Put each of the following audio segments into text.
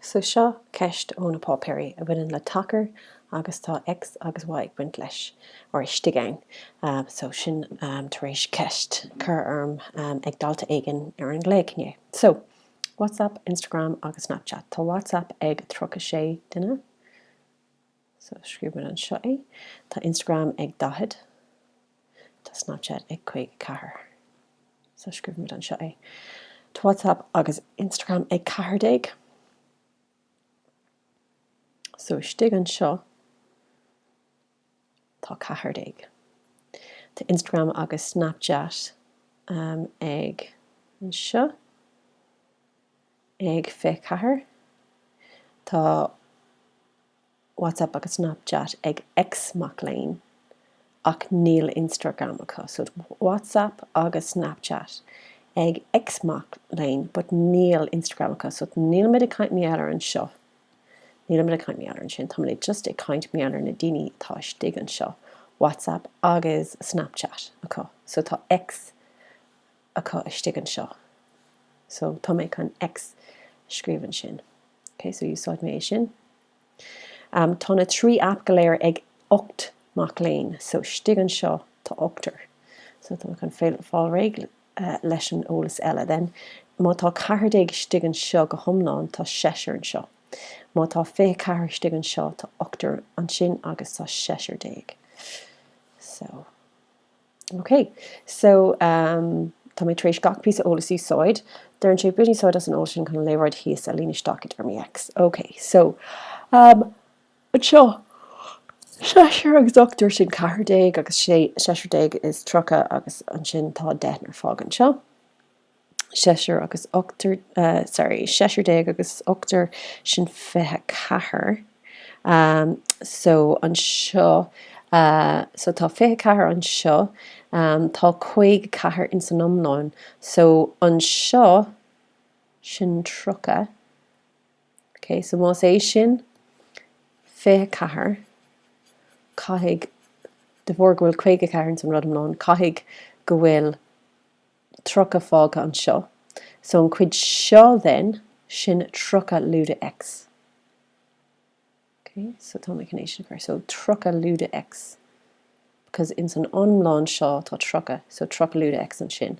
So seo ceist ó na páipéirí a bhaineann le tacair agus tá X agus Y ag baint leis, or istigh ann. So sin tar éis ceist cur orm ag dalta éigin ar an nglaoch inné. So WhatsApp, Instagram agus Snapchat. Tá WhatsApp ag 36 duine. So scríobhaimid anseo é. Tá Instagram ag 40. Tá Snapchat ag 54. So scríobhaimid anseo é. Tá WhatsApp agus Instagram ag 14. So istigh anseo tá 14. Tá Instagram agus Snapchat ag, anseo, ag 24. Tá. WhatsApp agus Snapchat ag X mac léinn ach níl Instagram acu so WhatsApp agus Snapchat ag X mac léinn but níl Instagram acu so nílimid ag caint mar gheall ar anseo nílimid ag caint mar gheall ar ansin táimid just ag caint mar gheall ar na daoine atá istigh anseo WhatsApp agus Snapchat acu so tá X acu istigh anseo. So, tá mé chun X a scríobh ansin. Ok, so úsáid mé é sin. Am, tá na trí aip go léir ag ocht mac léinn. So, istigh anseo, tá ochtar. So, tá mé chun fail, fáil réidh leis an eolas eile. Then, má tá ceathair déag istigh anseo go hiomlán, tá seisear anseo. Má tá fiche ceathair istigh anseo, tá ochtar ansin agus tá seisear déag. So. Ok, so ehm tá mé tar éis gach píosa eolas a úsáid, deireann sé bain úsáid as an eolas sin chun an léaráid thíos a líonadh isteach i dtéarmaí X. Ok, so ehm anseo seisear agus ochtar sin ceathair déag agus sé seisear déag is tríocha agus ansin tá deichniúr fágtha anseo. seisear agus ochtar, sorry, seisear déag agus ochtar sin fiche ceathair, so, anseo, so tá fiche ceathair anseo, tá caoga ceathair ins an iomlán, so, anseo, sin tríocha, ok, so más é sin fiche ceathair, caithfidh, de bharr go bhfuil caoga ceathair ins an rud iomlán, caithfidh go bhfuil, 30 fágtha anseo, so an cuid seo then, sin 30 lúide x. Ok, so tá mé chun é sin a chur, so 30 lúide x, because ins an iomlán seo tá 30, so 30 lúide x ansin.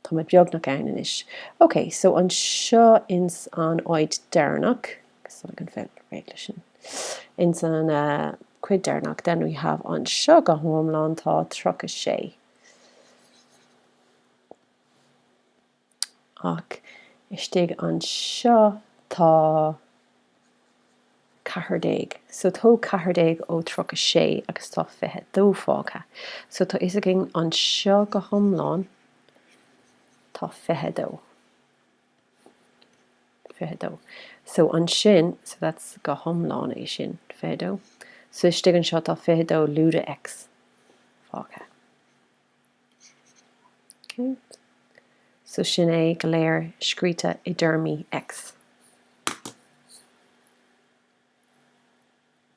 Tá mé beagnach ann anois. Ok, so anseo ins an áit deireanach, agus tá mé chun fáil réidh le sin, ins an chuid deireanach then we have anseo go hiomlán tá 36. Ach istigh anseo tá ceathrar déag. So tóg ceathrar déag ó tríocha sé agus tá fiche dó fágtha. So tá fhios againn anseo go hiomlán tá fiche dó. 22. So ansin, so that's go hiomlán é sin. 22. So istigh anseo tá 22 lúide X fágtha. Okay. So sin é go léir scríte i dtéarmaí X.